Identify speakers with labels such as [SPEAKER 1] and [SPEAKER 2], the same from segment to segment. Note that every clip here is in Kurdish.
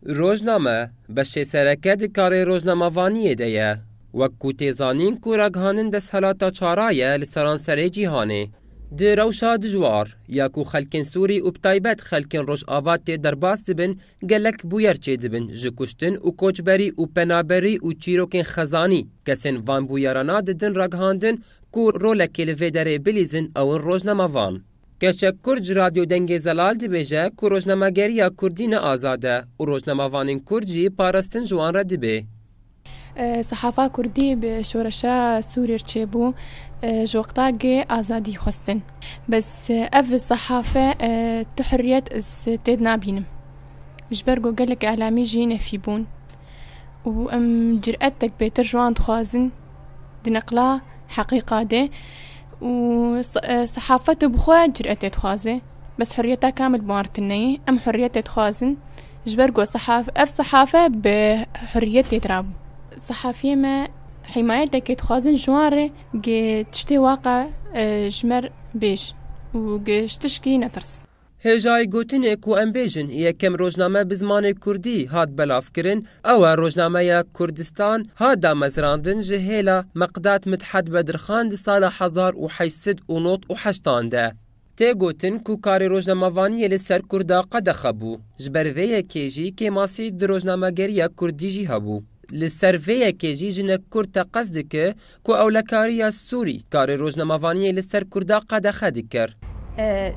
[SPEAKER 1] Rojname, beşê sereke di karê rojnamevaniyê de ye. Wek ku tê zanîn ku ragihanin desthilata çara ye li seranserê cîhanê. Di rewşa dijwar ya ku xelkên Sûrî û bi taybet xelkên Rojava tê derbas dibin gelek bûyer çêdibin ji kuştin û koçberî û penaberî û çîrokên xezanî kesên van bûyerana didin ragihandin ku rolekê li vê derê bilîzin ew in rojnamevan. Keçek Kurd ji Radyo Dengê Zelal dibêje ku rojnamegeriya Kurdî ne azad e û rojnamevanên Kurd jî parastin ji wan re dibê.
[SPEAKER 2] Sehafa Kurdî bi şoreşa Sûrîr çêbû ji wextagê azadî xwestin. Bes ev sehafe tu hurriyet ez tê de nabînim. Ji ber ku gelek îlamî jî nefî bûn û em cüretek pêtir ji wan dixwazin. Di neqla heqîqa de û sehafet bi xwe cüretê dixwaze. Bes hurriyeta kamil Martin neyê. Em hurriyetê dixwazin. Ji ber ku ev sehafe bi hurriyetê dirabû. Sehafiyê me hîmayetekê dixwazin ji wan re ku tiştê waqa ji me bêj û ku ji tişkî netirs. Hêjayî gotinê
[SPEAKER 1] ku em bêjin yekem rojname bi zimanê kurdî hat belavkirin, ew e rojnameya Kurdistan hat damezrandin ji hêla Meqdad Midhed Bedirxan di sala hezar û heşt sed û nod û heştan de. Tê gotin ku karê rojnamevaniyê li ser Kurda qedexe bû. Ji ber vê yekê jî kêmasî di rojnamegeriya kurdî jî hebû. Li ser vê yekê jî jinek kurd teqez dike Ku ewlekariya Sûrî karê rojnemavaniyê li ser Kurda qedexe dikir.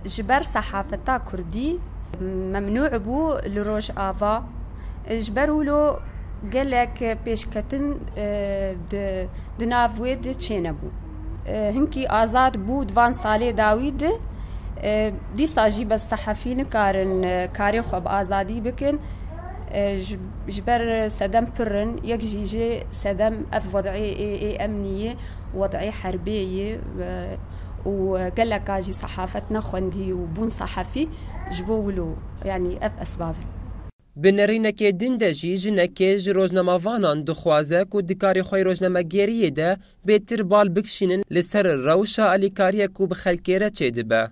[SPEAKER 1] Ji ber
[SPEAKER 3] sehafeta Kurdî memnû bû li Rojava. Ji ber wilo gelek pêşketin di nav wê de çênebû. Hinkî azad bû di van salê dawî de. Dîsa jî bes sehafî nikarin karê xwe bi azadî bikin. Ji ber sedem pir in. Yek jî jê. Sedem ev wedî yê emnî yê, wedî herbê yê û geleka jî sehafet nexwendî û bûn sehafî ji bo wilo yanî ev esbab in. Bi nirînekê
[SPEAKER 1] din de jî jinekê ji rojnamevanan dixwaze ku di karê xwe yê rojnamegeriyê de bêtir bal bikişînin li ser rewşa alîkariyê ku bi xelkê re çêdibe.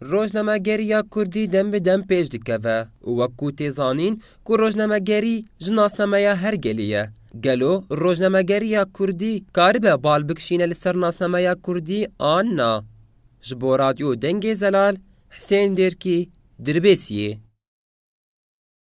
[SPEAKER 4] Rojnamegeriya
[SPEAKER 1] Kurdî dem bi dem pêş dikeve û wek ku tê zanîn ku rojnamegerî ji nasnameya her gelê ye, gelo rojnamegeriya Kurdî karibe bal bikişîne li ser nasnameya Kurdî an na? Ji bo Radyo Dengê Zelal, Hisên Dêrkî, Dirbêsiyê.